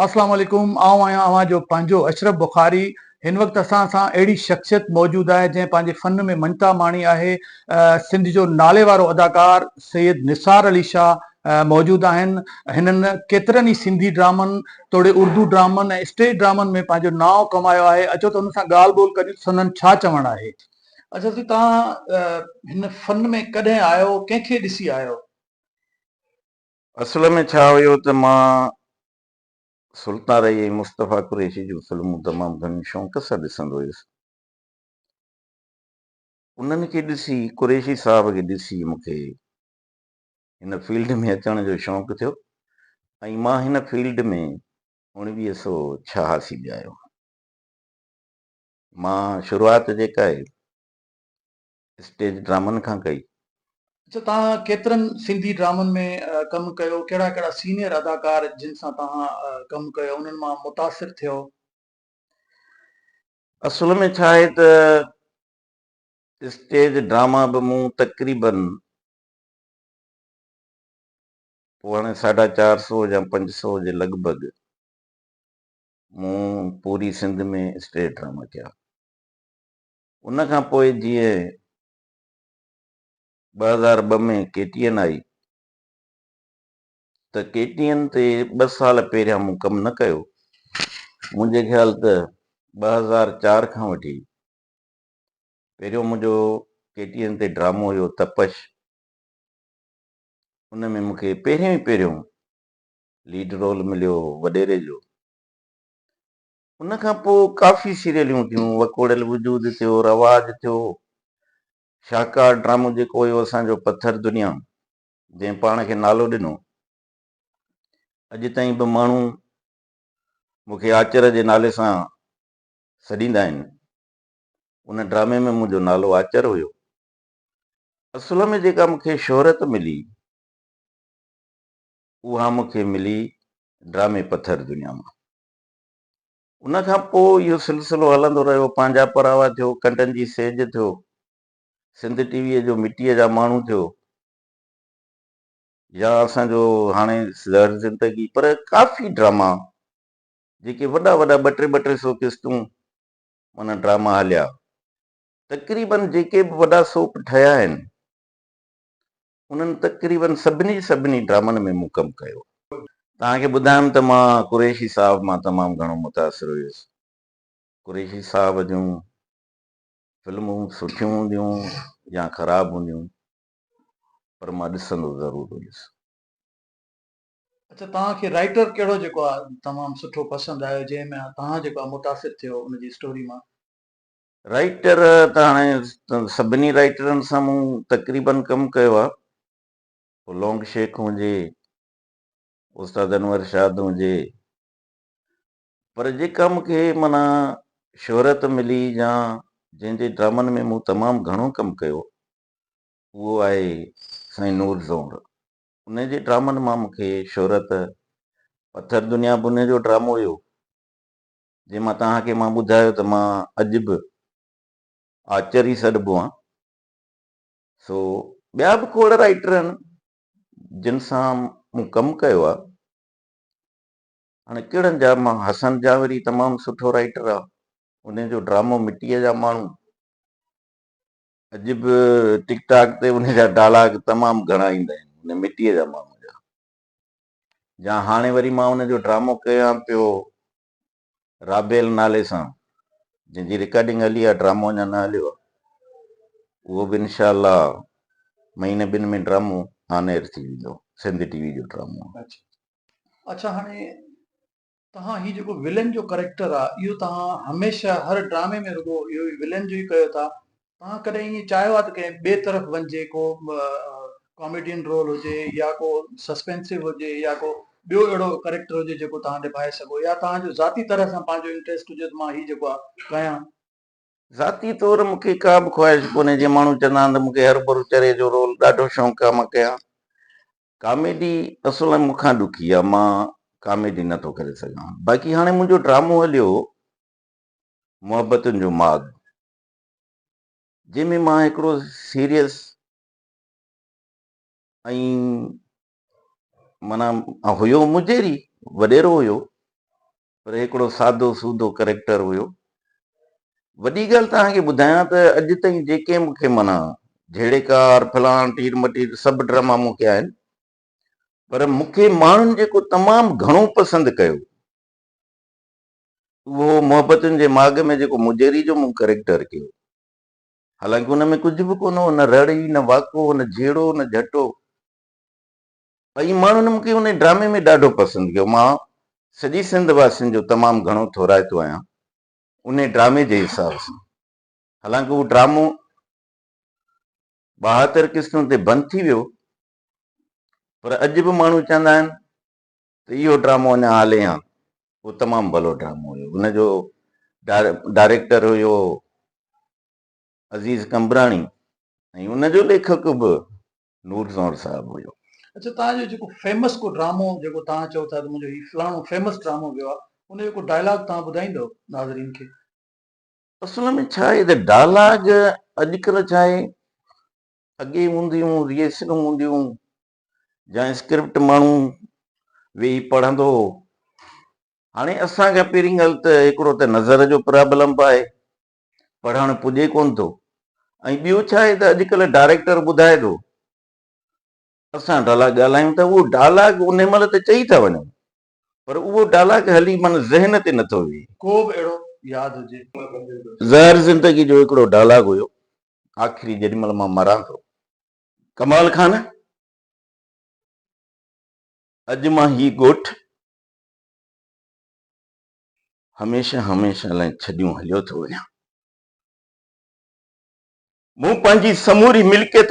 اسلام عليڪم آئون آهيان اوهان جو پنهنجو اشرف بخاري هن وقت اسان سان اهڙي شخصيت موجود آهي جنهن پنهنجي فن ۾ مڃتا ماڻي آهي سنڌ جو نالي وارو اداڪار سيد نثار علي شاهه موجود آهن هنن ڪيترن ئي سنڌي ڊرامن توڙي اردو ڊرامن ۽ اسٽيج ڊرامن ۾ پنهنجو نانء ڪمايو آهي اچو ته هنن سان ڳالهه ٻولهه ڪريون ته سندن ڇا چوڻ آهي اچو سي توهان هن فن ۾ ڪڏهن آيو ڪنهن کي ڏسي آيو. اصل ۾ ڇا هيو ته مان سلطان رحي ۽ مصطفيٰ قريشي جون فلمون تمام گهڻي شوق سان ڏسندو هيس. انهن کي ڏسي، قريشي صاحب کي ڏسي مون کي هن فيلڊ ۾ اچڻ جو شوق ٿيو ۽ مان هن فيلڊ ۾ اوڻويهه سؤ ڇهاسي ۾ آيو هوم. مان شروعات جيڪا آهي اسٽيج ڊرامن کان ڪئي. اچا توهان ڪيترن سنڌي ڊرامن ۾ ڪم ڪيو، ڪهڙا ڪهڙا سينيئر اداڪار جن سان توهان ڪم ڪيو انهن مان متاثر ٿيو؟ اصل ۾ ڇا آهي ته اسٽيج ڊراما به مون تقريبن پوء هاڻي ساڍا چار سو يا پنج سو جي لڳ ڀڳ مون پوري سنڌ ۾ اسٽيج ڊراما ڪيا. ان کان پوء جيئن ٻه هزار ٻه ۾ ڪي ٽي اين آئي ته ڪي ٽي اين تي ٻه سال پهريان مون ڪم نه ڪيو، منهنجي خيال ته ٻه هزار چار کان وٺي پهريون منهنجو ڪي ٽي اين تي ڊرامو هيو تپش، ان ۾ مون کي پهريون ئي پهريون ليڊ رول مليو هو وڏيري جو، ان کان پوء ڪافي سيريليون ٿيون، وڪوڙيل وجود ٿيو، رواج ٿيو، شاهڪار ڊرامو جيڪو هيو اسان جو پٿر دنيا جنهن پاڻ کي نالو ڏنو، اڄ تائين به ماڻهو مون کي آچر جي نالي سان سڏيندا آهن، ان ڊرامي ۾ منهنجو نالو آچر هيو، اصل ۾ جيڪا مون کي شهرت ملي اها مون کي ملي ڊرامي پٿر دنيا مان. ان کان پوء اهو سلسلو هلندو رهيو، پنهنجا پراوا ٿيو، ڪنڊن جي سيج ٿيو، سنڌ ٽي ويء جو مٽيء جا ماڻهو ٿيو يا اسان جو هاڻي زهر زندگي پر ڪافي ڊراما جيڪي وڏا وڏا ٻه ٽي ٻه ٽي سو قسطون معنيٰ ڊراما هليا. تقريبن جيڪي به وڏا سوپ ٺهيا آهن انهن تقريباً سڀني جي سڀني ڊرامن ۾ مون ڪم ڪيو. توهان کي ٻڌايم ته مان قريشي صاحب مان تمام گهڻو متاثر هيس. قريشي صاحب جون فلمون سٺيون هونديون يا خراب هونديون پر مان ڏسندو ضرور هيس. اڇا توهان کي رائيٽر ڪهڙو جيڪو تمام سٺو پسند آيو جنهن مان توهان جيڪو متاثر ٿيو ان جي اسٽوري مان؟ رائٽر ته هاڻي سڀني رائٽرن سان مون تقريباً ڪم ڪيو آهي. پوء لونگ شيخ هجي، استاد انور شاد هجي. پر جيڪا مون کي معنيٰ شهرت ملي يا جنهن جي ڊرامن ۾ مون تمام گهڻو ڪم ڪيو اهو آهي سائين نور زئور. انهيء جي ڊرامن مان مون کي شهرت پٿر دنيا به انهيء جو ڊرامو هيو. جي مان توهان کي مان ٻڌايو ته مان اڄ به آچر ئي سڏبو آهيان سو ٻيا به کوڙ رائيٽر آهن جن سان مون ڪم ڪيو آهي هاڻي ڪهڙن جا مان حسن جاوري تمام سٺو رائيٽر آهي انهي جو ڊرامو مٽيء جا ماڻهو اڄ به ٽڪ ٽاڪ تي انهي جا ڊالاگ تمام گهڻا ايندا آهن مٽيء جا ماڻهو جا جا هاڻي وري مان ان جو ڊرامو ڪيان پيو رابيل نالي سان جنهن جي رڪارڊنگ هلي آ ڊرامو اڃا نه هليو آ اهو به انشاء الله مهيني ٻن ۾ ڊرامو آن ايئر ٿي ويندو سنڌ ٽي وي جو ڊرامو آ. اڇا اڇا هاڻي توهان هي جيڪو ولن جو ڪريڪٽر آ اهو توهان هميشه هر ڊرامي ۾ رڳو اهو ئي ولن جو ئي ڪيو ٿا توهان ڪڏهن ائين چاهيو آ ته ڪنهن ٻئي طرف وڃجي ڪو ڪاميڊين رول هجي يا ڪو سسپينسو هجي يا ڪو ٻيو اهڙو ڪريڪٽر هجي جيڪو توهان نڀائي سگهو يا توهان جو ذاتي طرح سان پنهنجو انٽريسٽ هجي ته مان هي جيڪو آ ڪيان. ذاتي طور مون کي ڪا به خواهش ڪونهي جيئن ماڻهو چوندا آهن ته مون کي هرو برو چري جو رول ڏاڍو شونق آ مان ڪيان ڪاميڊي اصل ۾ مون کان ڏکي آ مان ڪاميڊي نه ٿو ڪري سگهان باقي هاڻي منهنجو ڊرامو هليو هو محبتن جو ماڳ جنهن ۾ مان هڪڙو سيريس ۽ معنيٰ هيو مجيري وڏيرو هيو پر هي هڪڙو سادو سودو ڪريڪٽر هيو. وڏي ڳالهه توهان کي ٻڌايان ته اڄ تائين جيڪي مون کي معنيٰ جهيڙيڪار، فلاڻ، ٽير مٽير سڀ ڊراما مون ڪيا آهن پر مون کي ماڻهن جيڪو تمام گهڻو پسند ڪيو اهو هو محبتن جي ماڳ ۾ جيڪو مجيري جو مون ڪريڪٽر ڪيو. حالانڪه ان ۾ ڪجهه به ڪونه هو نه رڙ ئي نه واڪو نه جهيڙو نه جهٽو. ۽ ماڻهن مون کي ان ڊرامي ۾ ڏاڍو پسند ڪيو. مان سڄي سنڌ واسين جو تمام گهڻو ٿورائتو آهيان ان ڊرامي جي حساب سان. حالانڪ اهو ڊرامو ٻاهتر قسطن تي بند ٿي ويو پر اڄ به ماڻهو چوندا آهن ته اهو ڊرامو اڃا هلي هان. اهو تمام ڀلو ڊرامو هيو. ان جو ڊائريڪٽر هيو عزيز قمبراڻي ۽ ان جو ليکڪ به نور زهر صاحب هيو. اڇا توهان جو جيڪو فيمس ڪو ڊرامو جيڪو توهان چئو ٿا ته منهنجو هي فلاڻو فيمس ڊرامو ويو آهي ان جو ڪو ڊائلاگ توهان ٻڌائيندؤ ناظرين کي. اصل ۾ ڇا آهي ته ڊائلاگ اڄڪلهه ڇا آهي اڳي هونديون ريهرسلون هونديون جا اسڪرپٽ ماڻهو ويهي پڙهندو هو هاڻي اسان کي پهرين ڳالهه ته هڪڙو ته نظر جو پرابلم به آهي پڙهڻ پڄي ڪونه ٿو ۽ ٻيو ڇا آهي ته اڄڪلهه ڊائريڪٽر ٻڌائي ٿو اسان ڊالاگ ڳالهايون ته اهو ڊالاگ انهي مهل ته چئي ٿا وڃون پر اهو ڊالاگ هلي من ذهن تي نٿو ويهي. ڪو به اهڙو ياد هجي. زهر زندگي جو هڪڙو ڊالاگ هيو آخري جيڏي مهل مان مران ٿو. ڪمال خان اڄ مان هي ڳوٺ. هميشه هميشه لاء ڇڏيون هليو ٿو وڃان. مون پنهنجي سموري ملڪيت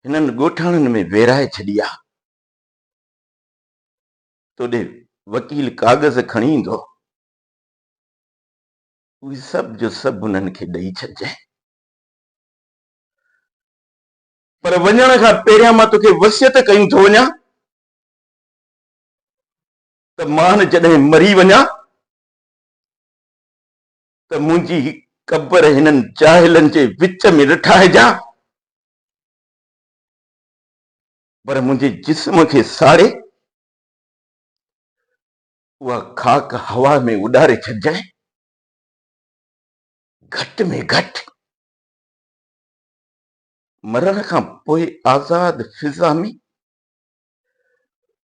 هنن ڳوٺاڻن ۾ ويرائي ڇڏي آ. توڏي وڪيل ڪاغذ کڻي ايندو، اهي سڀ جو سڀ هنن کي ڏئي ڇڏجانء. پر وڃڻ کان پهريان مان توکي وصيت ڪيون ٿو وڃان ته مان جڏهن مري وڃان ته منهنجي قبر هنن جاهلن جي وچ ۾ نه ٺاهجان پر منهنجي جسم کي ساڙي اها خاڪ هوا ۾ اڏاري ڇڏجانء گهٽ ۾ گهٽ مرڻ کان پوء آزاد فضا ۾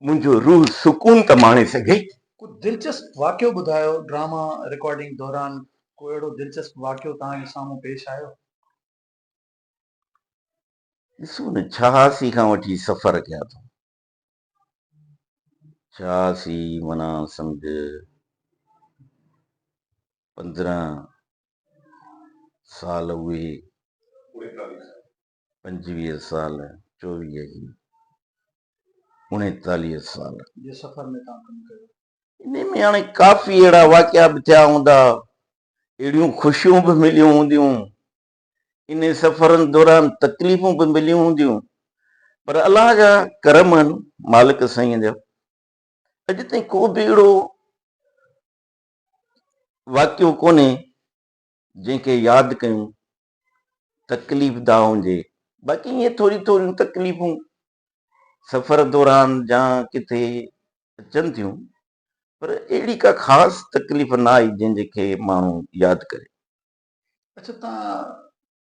منهنجو روح سڪون ته ماڻي سگهي. ڪو دلچسپ واقعو ٻڌايو، ڊراما رڪارڊنگ دوران ڪو اهڙو دلچسپ واقعو توهان جي سامهون پيش آيو؟ ڏسو نه ڇهاسي کان وٺي سفر ڪيا اٿم، ڇهاسي معنيٰ سمجهه پندرهن سال اهي، پنجويهه سال چوويهه هي اڻيتاليهه سال جي سفر ۾ توهان ڪم ڪيو. انهي ۾ هاڻي ڪافي اهڙا واقعا به ٿيا هوندا، اهڙيون خوشيون به مليون هونديون، انهي سفرن دوران تڪليفون به مليون هونديون، پر الله جا ڪرم آهن مالڪ سائين جا اڄ تائين ڪو به اهڙو واقعو ڪونهي جنهن کي ياد ڪيون تڪليف ده هجي باقي ائين ٿوريون ٿوريون تڪليفون سفر دوران جا ڪٿي اچن ٿيون پر اهڙي ڪا خاص تڪليف نه آئي جنهن جي کي ماڻهو ياد ڪري. اچا توهان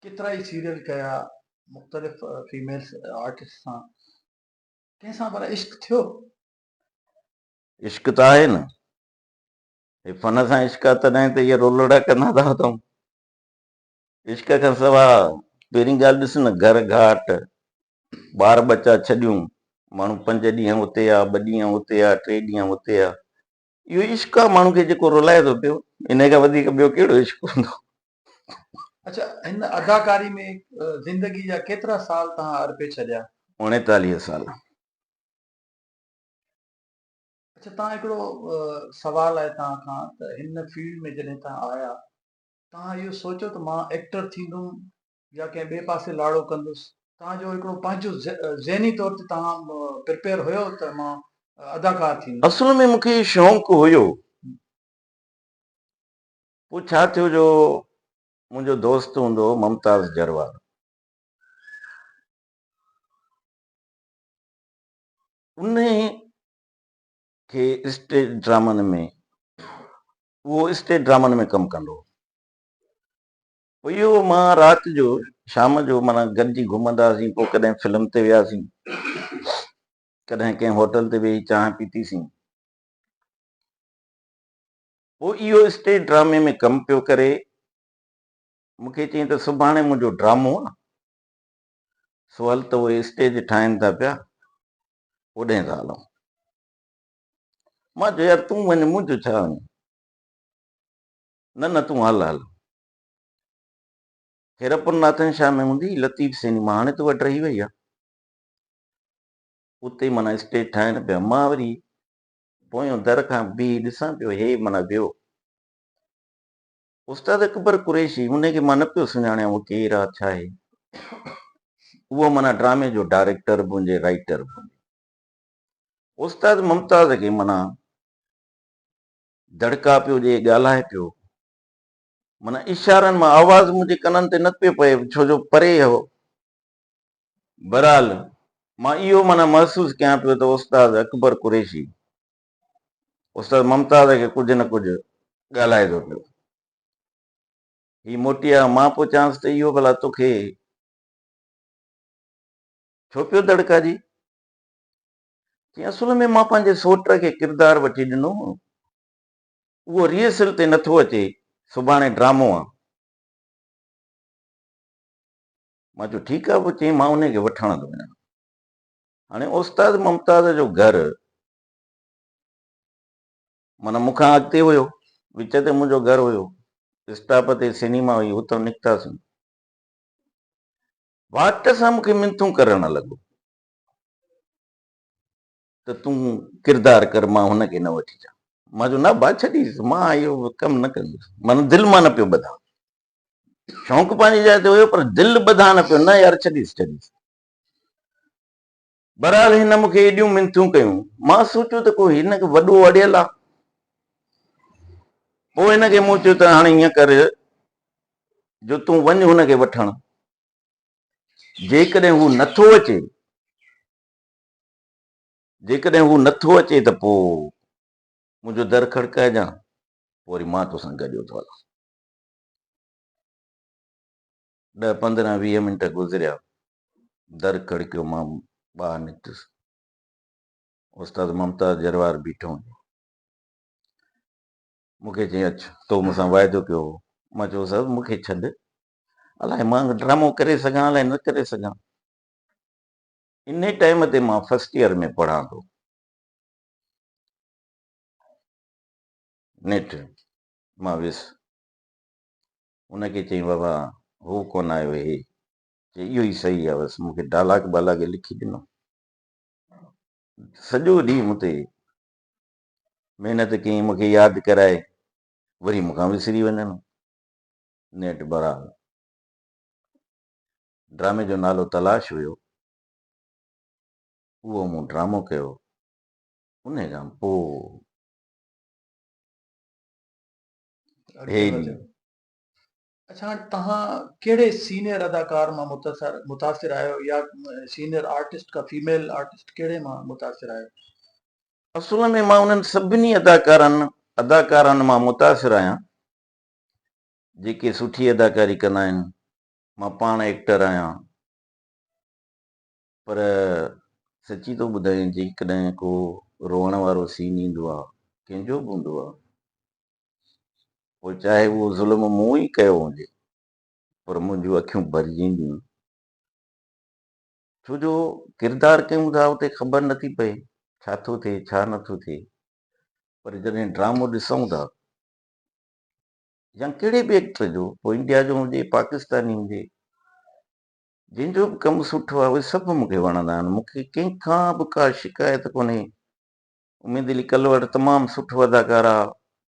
ڪيترائي سيريل ڪيا مختلف فيميلس آرٽسٽ سان ڪنهن سان ڀلا عشق ٿيو؟ عشق ته آهي نه هي فن سان عشق آهي تڏهن ته اهي رولڙا ڪندا ته هتائون عشق کان سوا پهرين ڳالهه ڏس نه گهر گهاٽ ٻار ٻچا ڇڏيون ماڻهو پنج ڏينهن اتي آ ٻه ڏينهن اتي آ ٽي ڏينهن اتي آ اهو عشق آ ماڻهو کي جيڪو رلائي ٿو پيو انهي کان وڌيڪ ٻيو ڪهڙو عشق هوندو. اڇا هن اداڪاري ۾ زندگي جا ڪيترا سال تهان ارپي ڇڏيا؟ اوڻيتاليهه سال. اڇا تهان هڪڙو سوال آهي تهان کان ته هن فيلڊ ۾ جڏهن تهان آيا توهان اهو سوچيو ته مان ايڪٽر ٿيندم يا ڪنهن ٻئي پاسي لاڙو ڪندس. توهان جو هڪڙو پنهنجو ذهني طور تي توهان پرپيئر هيو ته مان اداڪار ٿيندس. اصل ۾ مون کي اهو شونق هيو. پوء ڇا ٿيو جو منهنجو دوست هوندو هو ممتاز جروار. انهي کي اسٽيج ڊرامن ۾ اهو اسٽيج ڊرامن ۾ ڪم ڪندو هو. پوء اهو مان رات جو شام جو معنيٰ گڏجي گهمندا هئاسين. پوء ڪڏهن فلم تي وياسين. ڪڏهن ڪنهن هوٽل تي ويهي چانهه پيتي سين. پوء اهو اسٽيج ڊرامي ۾ ڪم پيو ڪري. مون کي چيائين ته سڀاڻي منهنجو ڊرامو آ. سو هل ته اهي اسٽيج ٺاهين ٿا پيا. اوڏهين ٿا هلون. مان چيو يار تون وڃ مون جو ڇا وڃان نه نه تون هل هل خيرپور ناٿن شاهه ۾ هوندي لطيف سيني مان هاڻي ته وٽ رهي وئي آهي اتي مانا اسٽيج ٺاهين پيا مان وري پويون در کان بيهي ڏسان پيو هي مانا ويو استاد اڪبر قريشي ان کي مان نه پيو سڃاڻيان اهو ڪير آهي ڇا آهي اهو مانا ڊرامي جو ڊائريڪٽر به هجي رائيٽر به هجي استاد ممتاز کي معنيٰ دڙڪا پيو ڏئي ڳالهائي پيو. معنيٰ اشارن مان آواز منهنجي ڪنن تي نه پيو پئي ڇو جو پري هو. بهرحال مان اهو معنيٰ محسوس ڪيان پيو ته استاد اڪبر قريشي استاد ممتاز کي ڪجهه نه ڪجهه ڳالهائي ٿو پيو. هي موٽي آيو مان پيو چانس ته اهو ڀلا توکي ڇو پيو دڙڪا ڏي؟ چيائين، اصل ۾ مان پنهنجي سوٽ کي ڪردار وٺي ڏنو هو. اهو ريهرسل تي نٿو اچي، سڀاڻي ڊرامو آ. مان چيو، ٺيڪ آ، پوء چيائين، مان انهي کي وٺڻ ٿو وڃان. هاڻي استاد ممتاز جو گهر معنيٰ مون کان اڳتي هيو، وچ تي منهنجو گهر هيو، اسٽاپ تي سئنيما هئي، اتان نڪتاسين. واٽ سان مون کي منٿون ڪرڻ لڳو، ته تون ڪردار ڪر مان هن کي نه وٺي اچان. مان چيو نه ڀاء ڇڏيس مان اهو ڪم نه ڪندس معنيٰ دل مان نه پيو ٻڌان شونق پنهنجي جاء تي هيو پر دل ٻڌان نه پيو نه يار ڇڏيس ڇڏيس بهرحال هن مون کي ايڏيون منٿيون ڪيون مان سوچيو ته ڪو هن کي وڏو اڙيل آ پوء هن کي مون چيو ته هاڻي ائين ڪر جو تون وڃ هن کي وٺڻ جيڪڏهن هو نه ٿو اچي جيڪڏهن هو نه ٿو اچي ته پوء منهنجو در کڙڪائجان پوء وري مان تو سان گڏيو ٿو هلان. ڏهه پندرهن ويهه منٽ گذريا در کڙڪيو مان ٻاهر نڪتس استاد ممتاز جروار بيٺو هو مون کي چيائين اچ تو مون سان واعدو ڪيو هو مان چيو استاد مون کي ڇڏ الاء مان ڊرامو ڪري سگهان الاء نه ڪري سگهان. ان ٽائيم تي مان فرسٽ ايئر ۾ پڙهان ٿو. نيٺ مان ويس ان کي چئين بابا هو ڪونه آيو هي چي اهو ئي صحيح آهي بس مون کي ڊالاگ بالاگ لکي ڏنو. سڄو ڏينهن مون تي محنت ڪيائين مون کي ياد ڪرائي وري مون کان وسري وڃن. نيٺ بھرحال ڊرامي جو نالو تلاش ھيو اھو مون ڊرامو ڪيو انھي کان پوء ھي ڏينھن. اڇا ھاڻ توھان ڪھڙي سينئر اداڪار مان متاثر آھيو يا سينئر آرٽسٽ ڪا فيميل آرٽسٽ ڪھڙي مان متاثر آھيو. اصل ۾ مان انھن سڀني اداڪارن اداڪارائن مان متاثر آھيان جيڪي سٺي اداڪاري ڪندا آهن مان پاڻ ايڪٽر آهيان پر سچي ٿو ٻڌايان جيڪڏهن ڪو روئڻ وارو سين ايندو آهي ڪنهن جو به هوندو آهي پوء چاهي اهو ظلم مون ئي ڪيو هجي پر منهنجون اکيون ڀرجينديون ڇو جو ڪردار ڪيون ٿا اتي خبر نٿي پئي ڇا ٿو ٿئي ڇا نٿو ٿئي پر جڏهن ڊرامو ڏسون ٿا يا ڪهڙي به ايڪٽر جو پوء انڊيا جو هجي پاڪستاني هجي جنهن جو به ڪم سٺو آهي اهي سڀ مون کي وڻندا آهن مون کي ڪنهن کان به ڪا شڪايت ڪونهي اميد علي ڪلوڙ تمام سٺو اداڪار آهي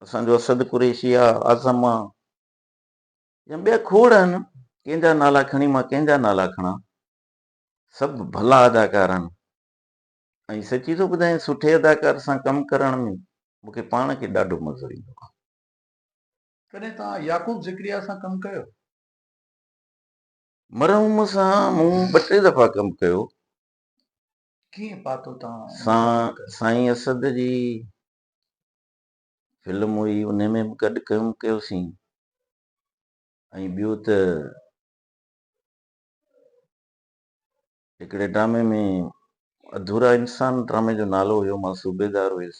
اسان جو اسد قريشي آهي اعظم آهي يا ٻيا کوڙ آهن ڪنهن جا نالا کڻي مان ڪنهن جا نالا کڻان سڀ ڀلا اداڪار آهن ۽ سچي ٿو ٻڌايان سٺي اداڪار سان ڪم ڪرڻ ۾ مون کي پاڻ کي ڏاڍو مزو ايندو آهي. ڪڏهن توهان يعقوب ذڪريا سان ڪم ڪيو؟ مرحوم سان مون ٻه ٽي دفعا ڪم ڪيو. ڪيئن پاتو توهان ان سان ڪم کي؟ سائين اسد جي فلم هئي انهي ۾ به گڏ ڪم ڪيوسين ۽ ٻيو ته هڪڙي ڊرامي ۾ اڌورا انسان ڊرامي جو نالو هيو مان صوبيدار هيس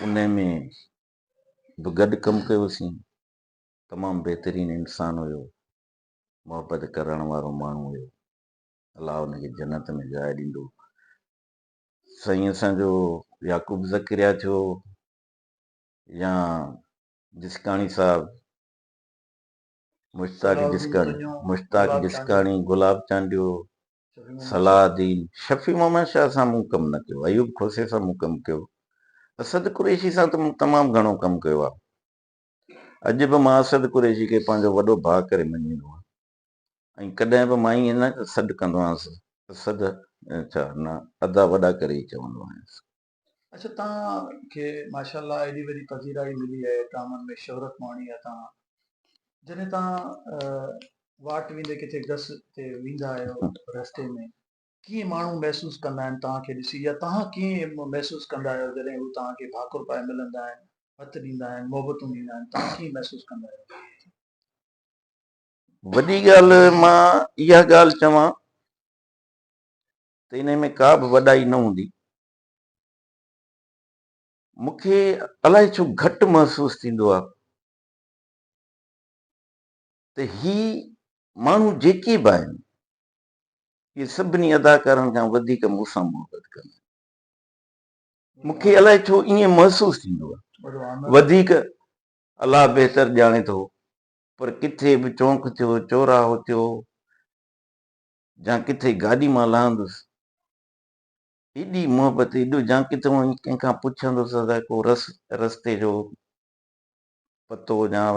ان ۾ به گڏ ڪم ڪيوسين تمام بهترين انسان هيو محبت ڪرڻ وارو ماڻهو هيو الله ان کي جنت ۾ جاء ڏيندو سائين اسان جو يعقوب زڪريا ٿيو يا جسڪاڻي صاحب مشتاق جسڪاڻي، مشتاق جسڪاڻي، گلاب چانڊيو، صلاح الدين، شفيع محمد شاهه سان مون ڪم نه ڪيو، ايوب کوسي سان مون ڪم ڪيو، اسد قريشي سان ته مون تمام گهڻو ڪم ڪيو آهي. اڄ به مان اسد قريشي کي پنهنجو وڏو ڀاء ڪري مڃيندو آهيان ۽ ڪڏهن به مان ائين نه سڏ ڪندو آهيانس، اسد ڇا نه ادا وڏا ڪري ئي چوندو آهيانس. اچا توهان کي ماشاءالله ايڏي وڏي پذيرائي ملي اهي ڊرامن ۾ شهرت ماڻي اهي توهان جڏهن توهان واٽ ويندي ڪٿي گس تي ويندا آهيو رستي ۾ ڪيئن ماڻهو محسوس ڪندا آهن توهان کي ڏسي يا توهان ڪيئن محسوس ڪندا آهيو جڏهن هو توهان کي ڀاڪر پائي ملندا آهن هٿ ڏيندا آهن محبتون ڏيندا آهن توهان ڪيئن محسوس ڪندا آهيو وڏي ڳالهه مان اها ڳالهه چوان ته انهيء ۾ ڪا به وڏائي نه هوندي. مون کي الائي ڇو گهٽ محسوس ٿيندو آهي ته هي ماڻهو جيڪي به آهن، اهي سڀني اداڪارن کان وڌيڪ مون سان محبت ڪندا آهن. مون کي الائي ڇو ائين محسوس ٿيندو آهي. وڌيڪ الله بهتر ڄاڻي ٿو، پر ڪٿي به چونڪ ٿيو، چوراهو ٿيو، جان ڪٿي گاڏي مان لهندس ايڏي محبت ايڏو جان ڪٿي وڃي ڪنهن کان پڇندس ادا ڪو رس رستي جو پتو جان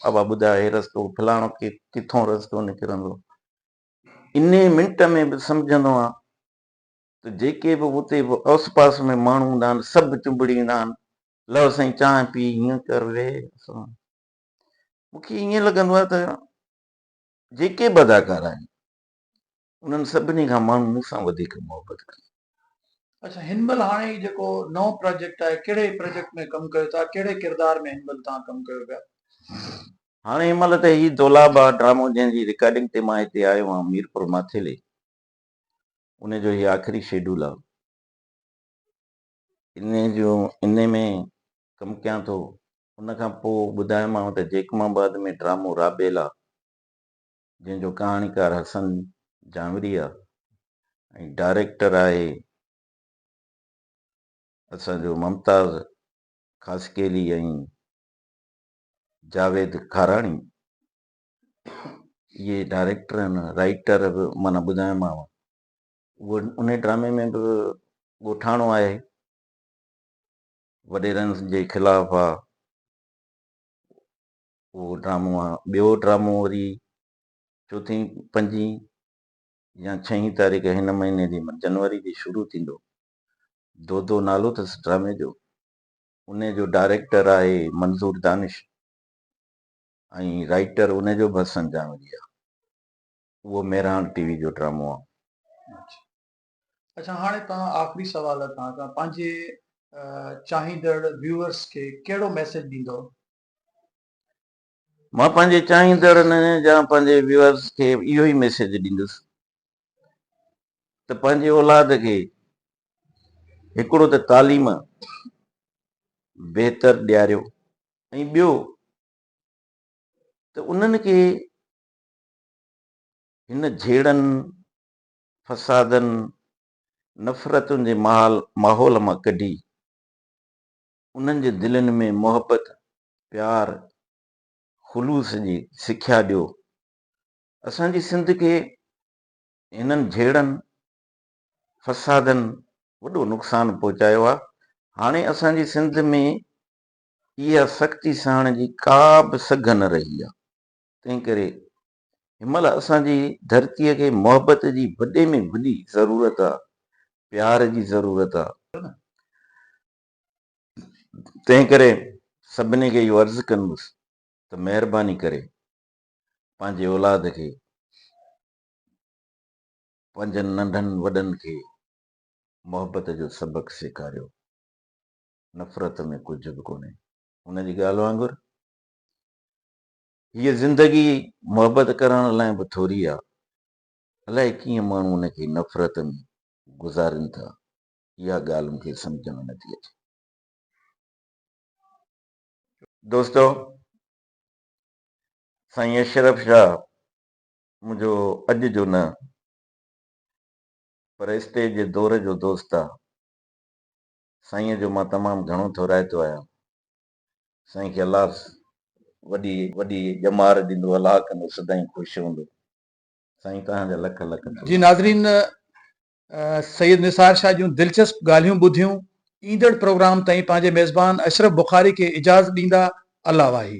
ابا ٻڌاء هي رستو فلاڻو ڪي ڪٿون رستو نڪرندو انهي منٽ ۾ به سمجهندو آهيان ته جيڪي به اتي به اوس پاس ۾ ماڻهو هوندا آهن سڀ چنبڙي ايندا آهن لو سائين چانهه پي هيئن ڪر ويهه مون کي ائين لڳندو آهي ته جيڪي به اداڪار آهن انهن سڀني کان ماڻهو مون سان وڌيڪ محبت ڪئي. اچا هن مهل هاڻي هي جيڪو نئون پراجيڪٽ آهي ڪهڙي پراجيڪٽ ۾ ڪم ڪيو ٿا ڪهڙي ڪردار ۾ هن مهل توهان ڪم ڪيو پيا. هاڻي هن مهل ته هي دولاب آهي ڊرامو جنهن جي رڪارڊنگ تي مان هتي آيو آهيان ميرپور ماٿيلي ان جو هي آخري شيڊول آهي انهي جو انهي ۾ ڪم ڪيان ٿو ان کان پوء ٻڌايومانو ته جيڪب آباد ۾ ڊرامو رابيلا جنهن جو ڪهاڻيڪار حسن جانوري آهي ۽ ڊائريڪٽر آهي اسان جو ممتاز خاصخيلي ۽ جاويد کاراڻي اهي ڊائريڪٽر ۽ رائيٽر به معنيٰ ٻڌايومانو اهو ان ڊرامي ۾ به ڳوٺاڻو آهي وڏيرن جي خلاف آ اهو ڊرامو آ ٻيو ڊرامو وري چوٿين پنجين يا ڇهين تاريخ هن مهيني جي جنوري جي شروع ٿيندو دودو نالو اٿس ڊرامي جو ان جو ڊائريڪٽر آهي منظور دانش ۽ رائيٽر ان جو به حسن جانوري آ اهو مهراڻ ٽي وي جو ڊرامو آ اچا هاڻي توهان آخري سوال تان توهان پنهنجي چاهيندڙ ويوئرس کي ڪهڙو ميسيج ڏيندؤ؟ مان پنهنجي چاهيندڙن جا پنهنجي ويوئرس کي اهو ئي ميسيج ڏيندس ته پنهنجي اولاد کي هڪڙو ته تعليم بهتر ڏياريو ۽ ٻيو ته انهن کي هن جهيڙن فسادن، نفرتن جي محال ماحول مان ڪڍي، انهن جي دلين ۾ محبت، پيار، خلوص جي سکيا ڏيو. اسان جي سنڌ کي هنن جهيڙن، فسادن وڏو نقصان پهچايو آ، هاڻي اسان جي سنڌ ۾ اها سختي سهڻ جي ڪا به سگهه نه رهي آ، تنهن ڪري هن مهل اسان جي ڌرتيء کي محبت جي وڏي ۾ وڏي ضرورت آ، پيار جي ضرورت آ. تنهنڪري سڀني کي اهو عرض ڪندس ته مهرباني ڪري پنهنجي اولاد کي، پنهنجن ننڍن وڏن کي محبت جو سبق سيکاريو. نفرت ۾ ڪجهه به ڪونهي. هن جي ڳالهه وانگر هيء زندگي محبت ڪرڻ لاء به ٿوري آ. الائي ڪيئن ماڻهو ان کي نفرت ۾ گذارين ٿا، اها ڳالهه مون کي سمجهه ۾ نٿي اچي. دوستو! سائين اشرف شاهه منهنجو اڄ جو نه پر استيج جي دور جو دوست آ. سائينء جو مان تمام گهڻو ٿورائتو آهيان. سائين کي الله وڏي وڏي ڄمار ڏيندو الله ڪندو سدائين خوش هوندو سائين توهان جا لک لک ٿورا. جي ناظرين سيد نثار شاهه جون دلچسپ ڳالهيون ٻڌيون ايندڙ پروگرام تائين پنهنجي ميزبان اشرف بخاري کي اجاز ڏيندا الله واهي.